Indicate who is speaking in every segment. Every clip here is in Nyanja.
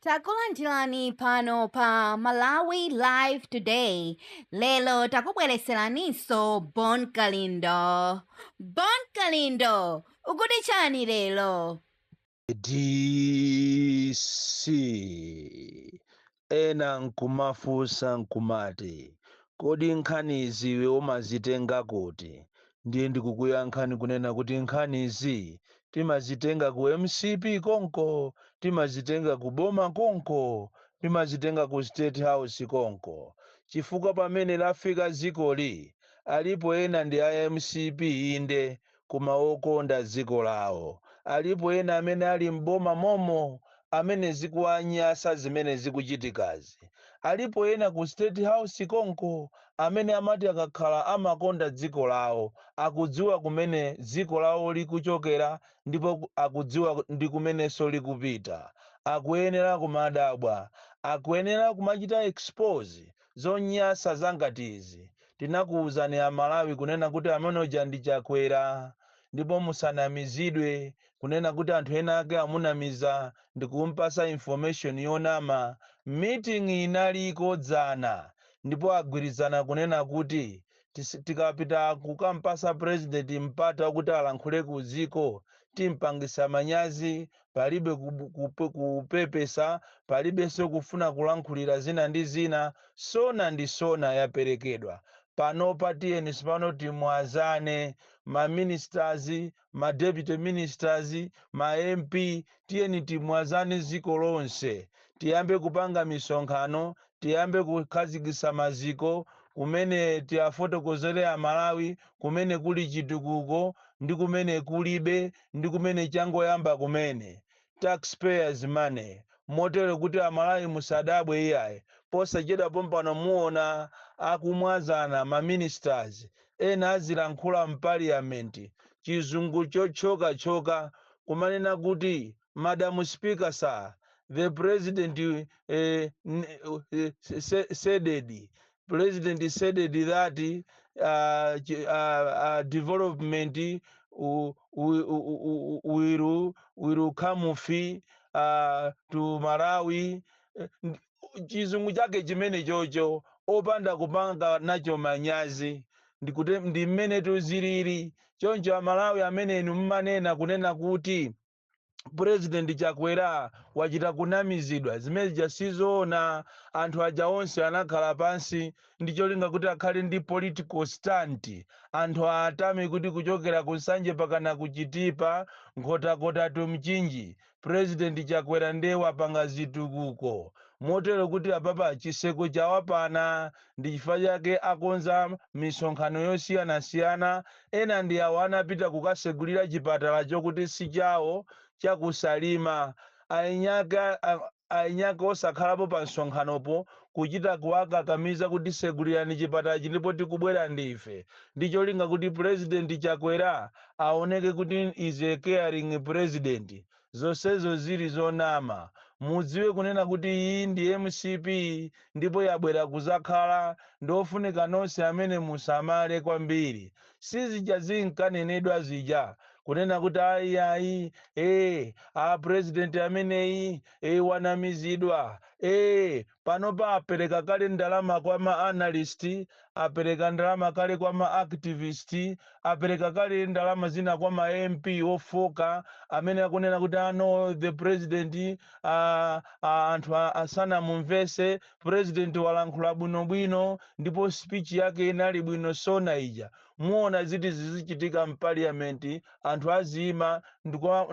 Speaker 1: Takulandirani pano pa Malawi Live Today. Lero takubwereseraninso Bon Kalindo. Bon Kalindo, ukuti chani lero?
Speaker 2: DC ena nkumafunsa nkumati kodi nkhanizi iwe umazitenga kuti? Ndiye ndikukuyankhani kunena kuti nkhanizi timazitenga ku mcp konko, timazitenga ku boma konko, timazitenga ku state house konko chifukwa pamene lafika dzikoli alipo ena ndi a mcp inde koma okonda dziko lawo, alipo ena amene ali m'boma momo amene zikuwanyasa zimene zikuchitikazi. Alipo ena ku state house konko amene amati akakhala amakonda dziko lawo, akudziwa kumene dziko lawo likuchokera ndipo akudziwa ndi kumenenso likupita. Akuyenera kumadabwa. Akuyenera kumachita expose zonyasa zangati izi. Tinakuuzani a Malawi kunena kuti amene uja ndi Chakwera ndipo musanamizidwe kunena kuti anthu enaake amunamiza ndikumpasa information yonama, meeting inaliko dzana ndipo agwirizana kunena kuti tis tikapita kukampasa president mpata kuti alankhule ku dziko timpangisa manyazi, palibe kub kup kupepesa, palibenso kufuna kulankhulira zina ndi zina, sona ndi sona yaperekedwa, panopa tiyeni tsopano timwazane ma ministers, ma deputy ministers, ma MP, tiyeni timwazane dziko lonse, tiyambe kupanga misonkhano, tiyambe kukhazikitsa maziko kumene tiafotokozere a Malawi kumene kuli chitukuko ndi kumene kulibe ndi kumene changoyamba kumene. tax payers money, motero kuti a Malawi musadabwe iyayi, posachedwa pompano muona akumwazana ma ministers, ena azilankhula m'paliyament chizungu chotchoka tchoka kumanena kuti madam speaker sir, the president eh, n, eh, s, s, saided, president saided that uh, ch- uh, uh, development w- w- w- will will come fi uh, to Malawi Eh, ndi- chizungu chake chimene chocho opanda kupanga nacho manyazi ndikute ndi mmene tiziliri choncho a Malawi amene inu mmanena kunena kuti President Chakwera wachita kunamizidwa zimene zija sizoona anthu aja onse anakhala pansi ndi cholinga kuti akhale ndi political stunt anthu atame kuti kuchokera ku Nsanje pakana ku Chitipa Nkhotakota to Mchinji President Chakwera ndiye wapanga zitukuko motero kuti apapa chitseko chawapana Ndi chifukwa chake akonza misonkhano yosiyanasiyana. Ena ndi awo anapita kukasegulira chipatala chokuti si chawo cha ku Salima. Eniake osakhalapo pa msonkhanopo kuchita kuwakakamiza kuti segulirani chipatalachi ndipo tikubwera ndife ndi cholinga kuti Pulezidenti Chakwera aoneke kuti is a caring President. Zonsezo zili zonama. Mudziwe kunena kuti iyi ndi mcp ndipo yabwera kuzakhala ndi zofunika nonse amene musamale kwambiri. Sizija zinkanenedwa zija kunena kuti ayi ayi ee a president ameneyi ee wanamizidwa ee. Panopa apereka kale ndalama kwa ma analyst, apereka ndalama kale kwa ma activist, apereka kale ndalama zina kwa ma MP ofooka amene akunena kuti ah no the president ah, ah, anthu asanamumvese president walankhula bwinobwino ndipo speech yake inali bwino sona ija. Muona ziti zizichitika m'parliament, anthu aziima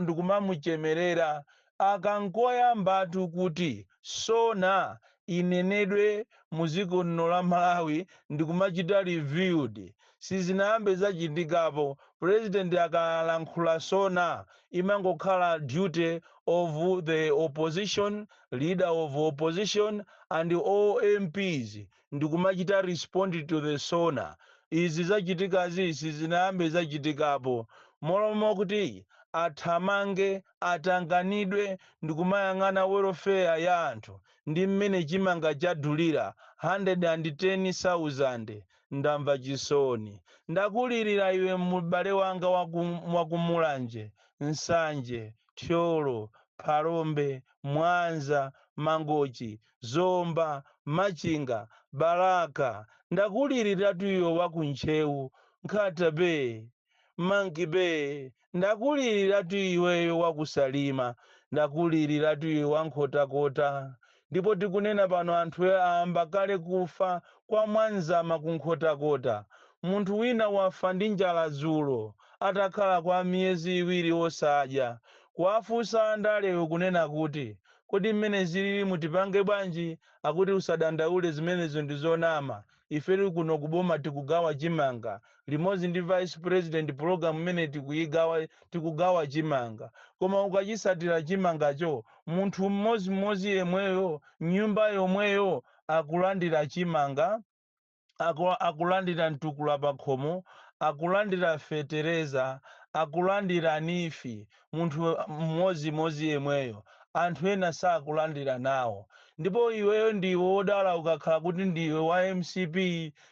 Speaker 2: ndikumamuchemerera Aka nkoyambatu kuti SoNA inenedwe mu dziko lino la Malawi ndikumachita reviewed. Sizinayambe zachitikapo. President akalankhula SoNA imangokhala duty of the opposition, leader of opposition and all MPs ndikumachita respond to the SoNA. Izi zachitikazi sizinayambe zachitikapo. Mmalo mokuti athamange. atanganidwe ndikumayang'ana welfare ya anthu ndi mmene chimanga chadulira 110,000 ndamva chisoni. Ndakulirira iwe m'bale wanga wa ku Mulanje, Nsanje, Thyolo, Phalombe, Mwanza, Mangochi, Zomba, Machinga, Balaka, ndakuliriratu iwe wa ku Ntcheu, Nkhata Bay, Monkey-Bay, ndakuliriratu iweyo wa ku Salima, ndakuliriratu iwe wa Nkhotakota, ndipo tikunena pano anthu ayamba kale kufa kwa Mwadzama ku Nkhotakota. Munthu wina wafa ndi njala dzulo atakhala kwa miyezi iwiri osadya. Kuwafunsa andalewo kunena kuti kodi mmene zililimu tipange bwanji akuti usadandaule zimenezo ndi zonama. ife tili kuno ku boma tikugawa chimanga limodzi ndi vice president program imene tikuyigawa tikugawa chimanga koma ukachisatira chimangacho munthu mmodzimodzi yemweyo nyumba yomweyo akulandira chimanga aku, akulandira mtukula pakhomo akulandira fetereza akulandira nifi munthu mmodzimodzi yemweyo, anthu ena sakulandira nawo. Ndipo iweyo ndiwe wodala ukakhala kuti ndiwe wa mcp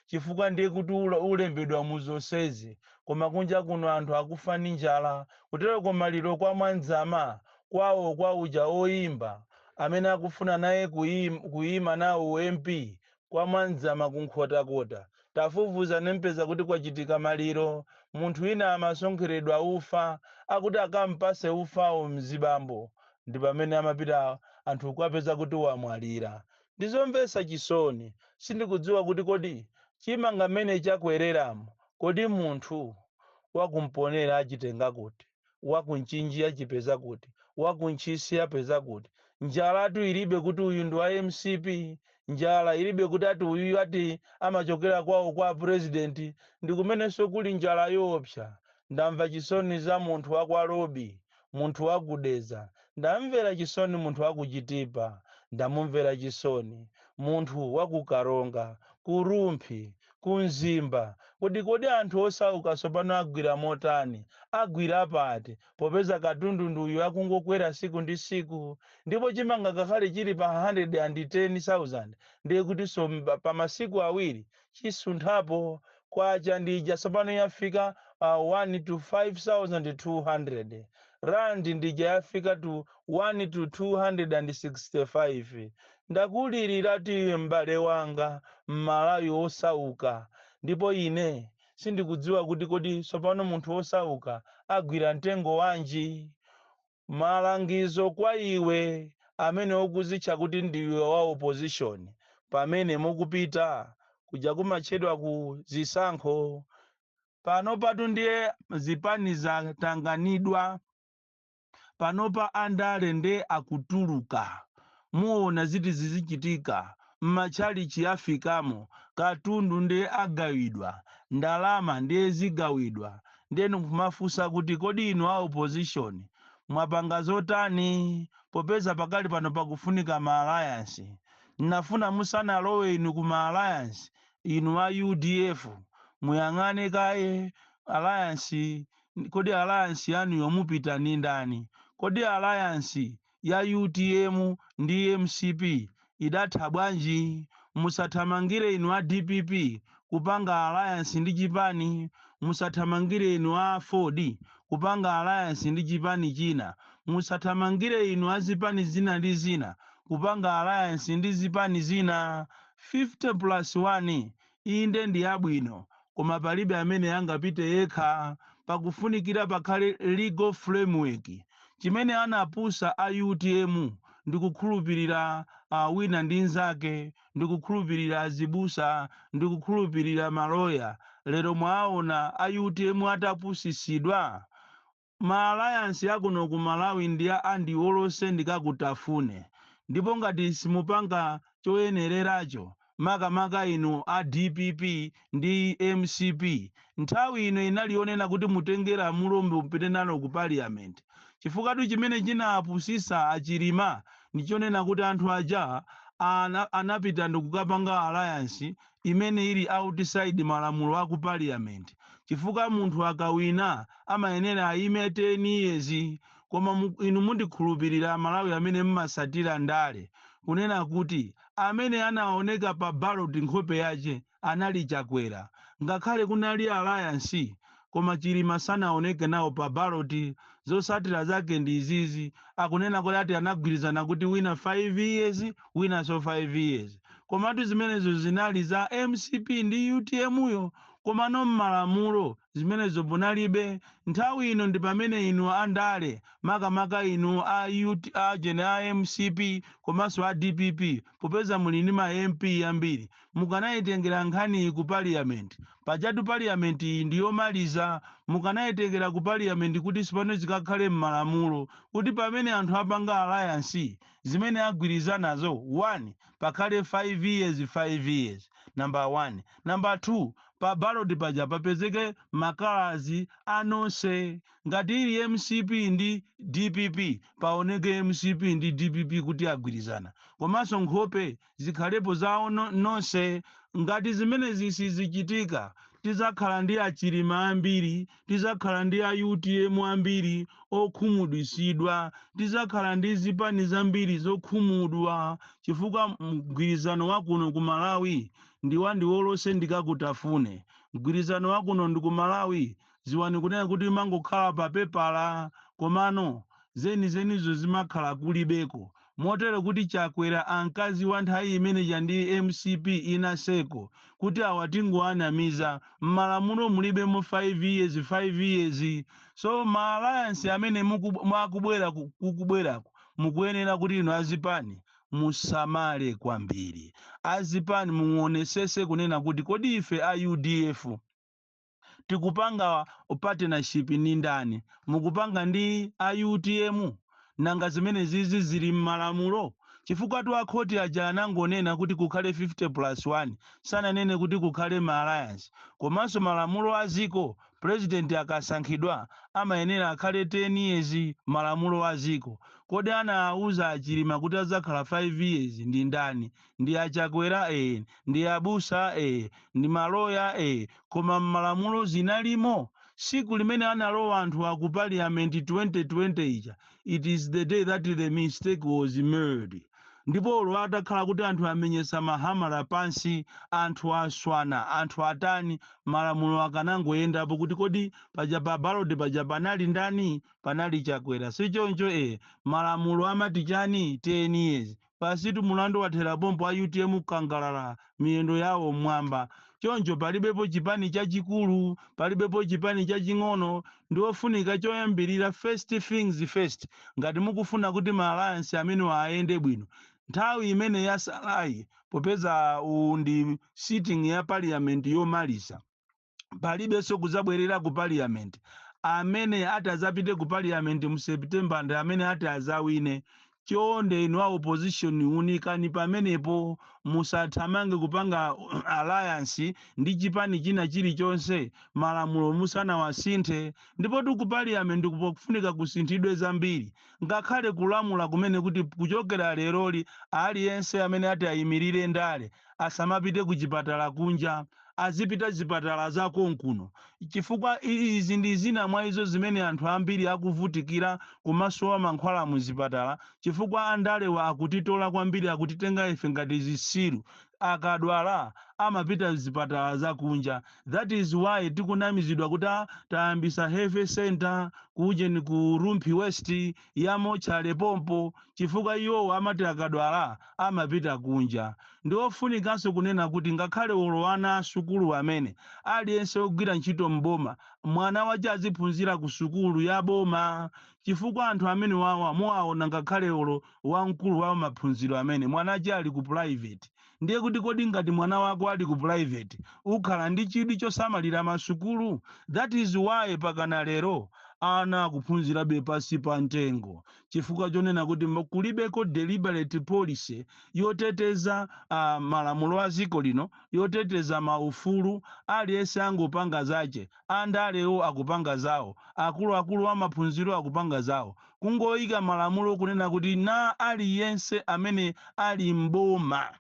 Speaker 2: chifukwa ndiye kuti ulembedwa mu zonsezi koma kunja kuno anthu akufa ndi njala. Kutero kumaliro kwa Mwandzama kwawo kwa uja oyimba amene akufuna naye kuyima nawo u MP Kwa Mwandzama ku Nkhotakota tafufuza nmpeza kuti kwachitika maliro. Munthu wina amasonkheredwa ufa akuti akampase ufawo mzibambowo ndipamene amapita anthu kukapeza kuti wamwalira. Ndizomvesa chisoni. Sindikudziwa kuti kodi chimanga mmene chakwereramu kodi munthu waku Mponela achitenga kuti? Wa ku Mchinji achipeza kuti? Wa ku Ntchisi apeza kuti? Njalatu ilibe kuti uyu ndi wa mcp. Njala ilibe kuti ati uyuyu ati amachokera kwawo kwa a president. Ndi kumenenso kuli njala yoopsa. Ndamva chisoni za munthu wa kwa Lobi, munthu wa ku Dedza. Ndamumvera chisoni munthu wa ku Chitipa. Ndamumvera chisoni munthu wa ku Karonga, ku Rumphi, Ku Mzimba, kodi kodi anthu osauka tsopano agwira motani? Agwira pati, popeza katundu ndi uyu akungokwera tsiku ndi tsiku? Ndipo chimanga ngakhale chili pa 110,000, ndiye kutinso pa masiku awiri chisunthapo, kwacha ndi ija tsopano yafika pa 1 to 5200 Rand ndi ija yafika to 1 to 265. Ndakulilira iwe m'bale wanga, Mmalawi wosauka, ndipo ine sindikudziwa kuti kodi tsopano munthu wosauka agwira mtengo wanji? Malangizo kwa iwe amene ukuzitcha kuti ndiwe wa opposition, pamene mukupita kuja kumatchedwa ku zisankho, panopatu ndiye zipani zatanganidwa. panopa andale nde akutuluka muona zithu zizichitika mmatchalitchi afikamo katundu nde agawidwa ndalama nde zigawidwa nde nkumafunsa kuti kodi inu a opposition mwapanga zotani popeza pakali pano pakufunika ma alliance nnafuna musanalowe inu ku ma alliance inu a udf muyang'ane kaye alliance kodi alliance yanuyo mupita ndi ndani? Kodi alliance ya utm ndi mcp idatha bwanji? Musathamangire inu a dpp kupanga alliance ndi chipani, musathamangire inu a aford kupanga alliance ndi chipani china, musathamangire inu a zipani zina ndi zina kupanga alliance ndi zipani zina. 50 plus 1 Inde, ndi yabwino, koma palibe amene angapite yekha. Pakufunikira pakhale legal framework. Chimene anapusa a utm ndikukhulupilira wina ndi nzake, ndikukhulupilira azibusa, ndikukhulupilira ma lawyer. Lero mwaawona a utm atapusisidwa? Ma alliance akuno ku Malawi ndi a ndioloseni ndikakutafune ndipo ngati simupanga choyeneleracho makamaka inu a dpp ndi mcp nthawi ino inali yonena kuti mutenge lamulo mupite nalo ku parliament chifukwatu chimene chinapusisa a Chilima ndichonena kuti anthu aja anapita ndikukapanga alliance imene ili outside malamulo aku parliament chifukwa munthu akawina amayenera ayime 10 years koma inu mundikhulupilira amalawi amene mmasatira ndale kunena kuti amene anaoneka pa ballot nkhope yache anali chakwera ngakhale kunali alliance koma chilima sanaoneke nawo pa ballot zosatira zake ndi izizi akunena kuti ati anagwirizana kuti wina 5 years winanso 5 years komatu zimenezo zinali za mcp ndi utm yo komano mmalamulo zimenezo munalibe nthawi ino ndi pamene inu andale makamaka inu a jene a mcp komanso a dpp popeza muli ndi ma mp ambiri mukanaitengera nkhaniyi ku parliament. Pajatu parliament iyi ndi yomaliza. Mukanaitengera ku parliament kuti tsopano zikakhale mmalamulo kuti pamene anthu apanga alliance zimene agwirizanazo 1 pakhale 5 years 5 years. Number 1. Number 2 pa ballot paja papezeke ma colours a nonse. Ngati ili mcp ndi dpp paoneke mcp ndi dpp kuti agwirizana. Komanso nkhope zikhalepo zawo onse ngati zimenezi sizichitika tidzakhala ndi achilima ambiri tidzakhala ndi a utm ambiri okhumudwisidwa tidzakhala ndi zipani zambiri zokhumudwa chifukwa mgwirizano wakuno ku malawi ndiwa ndiwolose ndikakutafune mgwirizano wakuno ndi ku malawi Dziwani kunena kuti imangokhala pa pepala komano zenizenizo zimakhala kulibeko motero kuti Chakwera ankaziwa nthawi imene ija ndi mcp inaseko kuti awa tingowanamiza, mmalamulo mulibemo 5 years 5 years so ma alliance amene mwa kukubwerako mukuyenera kuti inu azipani musamale kwambiri. Azipani muwonesese kunena kuti kodi ife a udf. tikupanga partnership ndi ndani? Mukupanga ndi a utm? Nanga zimenezizi zili mmalamulo? Chifukwatu a khoti aja anangonena kuti kukhale 50 plus 1, sananene kuti kukhale ma alliance. Komanso malamulo a dziko, president akasankhidwa amayenera akhale 10 years, malamulo a dziko. Kodi anauza a Chilima kuti adzakhala 5 years ndi ndani? ndi a Chakwera, ndi abusa, ndi maloya, koma mmalamulo zinalimo? Siku limene analowa anthuwa ku parliament 2020 ija it is the day that the mistake was made ndipo olo atakhala kuti anthu amenyesa ma hamala pansi, anthu aswana, anthu atani, malamulo akanangoyendapo kuti kodi paja pa ballot paja panali ndani? Panali Chakwera sichoncho, malamulo amati chani? 10 years Basitu mulandu wathera pompo a utm kukangalala miyendo yawo mmwamba choncho palibepo chipani chachikulu palibepo chipani chaching'ono ndi ofunika choyambirira first things first ngati mukufuna kuti ma alliance amenewa ayende bwino nthawi imene yasalayi popeza uwu ndi sitting ya parliament yomaliza palibenso kudzabwerera ku parliament amene ati adzapite ku parliament mu september ndi amene ati adzawine chonde inu a opposition unikani pamenepo musathamange kupanga alliance ndi chipani china chilichonse malamulo musanawasinthe ndipotu ku parliament pakufunika kusinthidwe zambiri ngakhale kulamula kumene kuti kuchokera leroli aliyense amene ati ayimirire ndale asamapite kuchipatala kunja, azipita zipatala za konkuno, chifukwa izi ndi zina mwa izo zimene anthu ambiri akuvutikira kumasowa mankhwala mu zipatala chifukwa andalewa akutitola kwambiri, akutitenga ife ngati zisiru, akadwala amapita zipatala za kunja, that is why tikunamizidwa kuti aah tayambisa health centre ku ujeni ku Rumphi west, yamotchalepompo chifukwa iwowo amati akadwala amapita kunja. Ndi ofunikanso kunena kuti ngakhale olo ana a sukulu amene, aliyense ogwira ntchito m'boma, mwana wache aziphunzira ku sukulu ya boma chifukwa anthu amenewawa muwaona ngakhale olo wamkulu wa maphunziro amene, mwana wache ali ku private. Ndiye kuti kodi ngati mwana wako ali ku private ukhala ndi chidwi chosamalira ma sukulu? That is why pakana lero ana akuphunzirabe pansi pa mtengo chifukwa chonena kuti kulibeko deliberate policy yoteteza malamulo a dziko lino yoteteza ma ufulu aliyense angopanga zache, andalewo akupanga zawo, akuluakulu a maphunziro akupanga zawo. kungoika malamulo kunena kuti na aliyense amene ali m'boma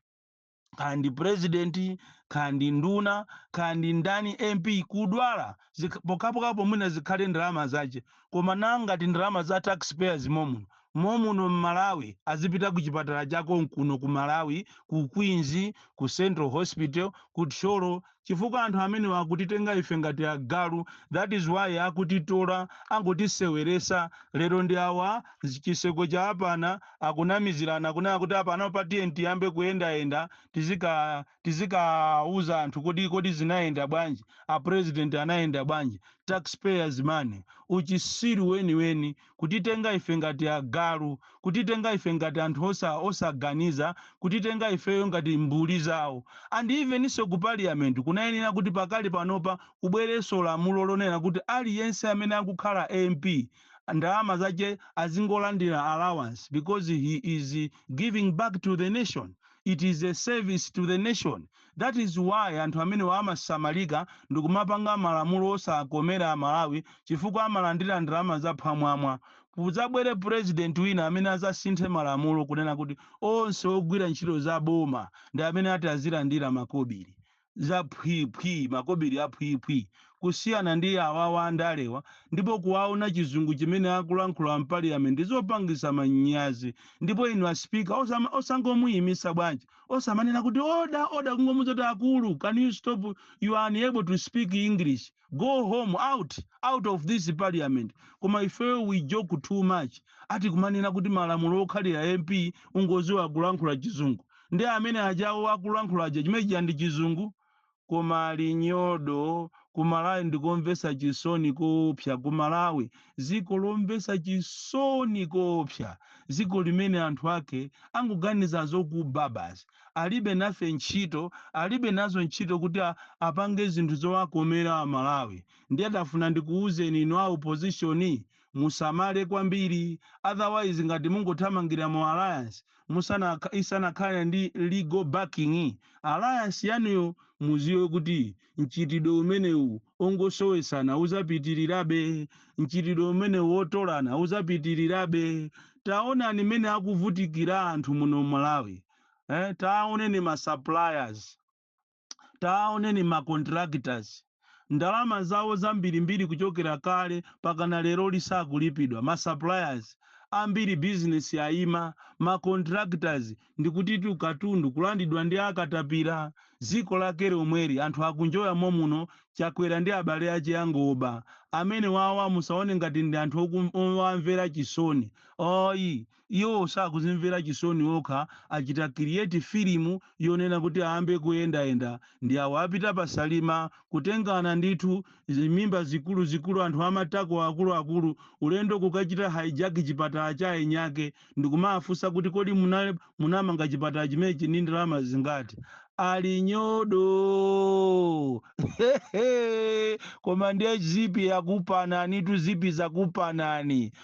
Speaker 2: kaya ndi president kaya ndi nduna kaya ndi ndani mp kudwala zikh- pokhapokhapo mwina zikhale ndalama zache koma na ngati ndalama za taxpayers momuno momuno m'malawi azipita ku chipatala cha konkuno ku malawi ku queens ku central hospital ku thyolo chifukwa anthu amenewa akutitenga ife ngati agalu that is why akutitola angotiseweresa lero ndi awa chitsanzo cha apana akunamizirana kunena kuti apana pa tiyeni tiyambe kuyendayenda tizika tizikauza anthu kuti kodi zinayenda bwanji a president anayenda bwanji taxpayers money uchisiru weniweni kutitenga ife ngati agalu, kutitenga ife ngati anthu osa, osaganiza, kutitenga ifeyo ngati mbuli zawo. And evenso ku Parliament kunayenera kuti pakali panopa kubwerenso lamulo lonena kuti aliyense amene akukhala MP ndalama zache azingolandira allowance because he is giving back to the nation, it is a service to the nation. That is why anthu amenewa amasamalika ndikumapanga malamulo osakomera a Malawi chifukwa amalandira ndalama za phwamwamwa. Kuzabwere president wina amene azasinthe malamulo kunena kuti onse ogwira ntchito za boma ndi amene ati azilandira makobiri za phwi phwi makobiri a phwi phwi kusiyana ndi awawa andalewa ndipo kuwaona chizungu chimene akulankhula mpaliyamenti zopangisa manyazi ndipo inu a speaker osama osangomuyimisa bwanji Osamanena kuti order order kungomuuza kuti akulu can you stop you are unable to speak English go home out out of this parliament koma ifeyo we joke too much ati kumanena kuti malamulo okhalira MP ungoziwa kulankhula chizungu ndi amene ajawo akulankhula aja chimene chija ndi chizungu koma linyodo kumalawi ndikomvesa chisoni koopsa kumalawi ziko lomvesa chisoni koopsa ziko limene anthu ake angoganiza zokuba basi alibe nafe ntchito alibe nazo ntchito kuti a- apange zinthu zowakomera amalawi ndiye ndafuna ndikuuzeni inu a opposition Musamale kwambiri otherwise ngati mungothamangira mu alliance isanakhale ndi legal backing alliance yanuyo muziwe kuti mchitidwe umenewu ongosowesana uzapitilirabe, mchitidwe umenewu wotolana uzapitilirabe. Taonani mmene akuvutikira anthu muno Malawi, taoneni ma suppliers. Tawaoneni ma contractors ndalama zawo zambirimbiri kuchokera kale pakana lero lisakulipidwa, ma suppliers ambiri business yaima, ma contractors ndikutitu katundu kulandidwa ndi akatapira, ziko lake lomweri anthu akunjoya momuno Chakwera ndi abale ache angoba amenewawa musaone ngati ndi anthu owamvera chisoni ayi. Iwo sakuzimvera chisoni okha achita create filimu yonena kuti ayambe kuyendayenda ndi awa apita pa Salima kutengana ndithu zimimba zikuluzikulu anthu amatako akuluakulu ulendo kukachita hijack chipatala cha enyake ndikumaafunsa kuti kodi munamanga chipatala chimenechi ndi ndalama zingati ali nyodo koma ndiye zipi yakupananitu zipi yakupanani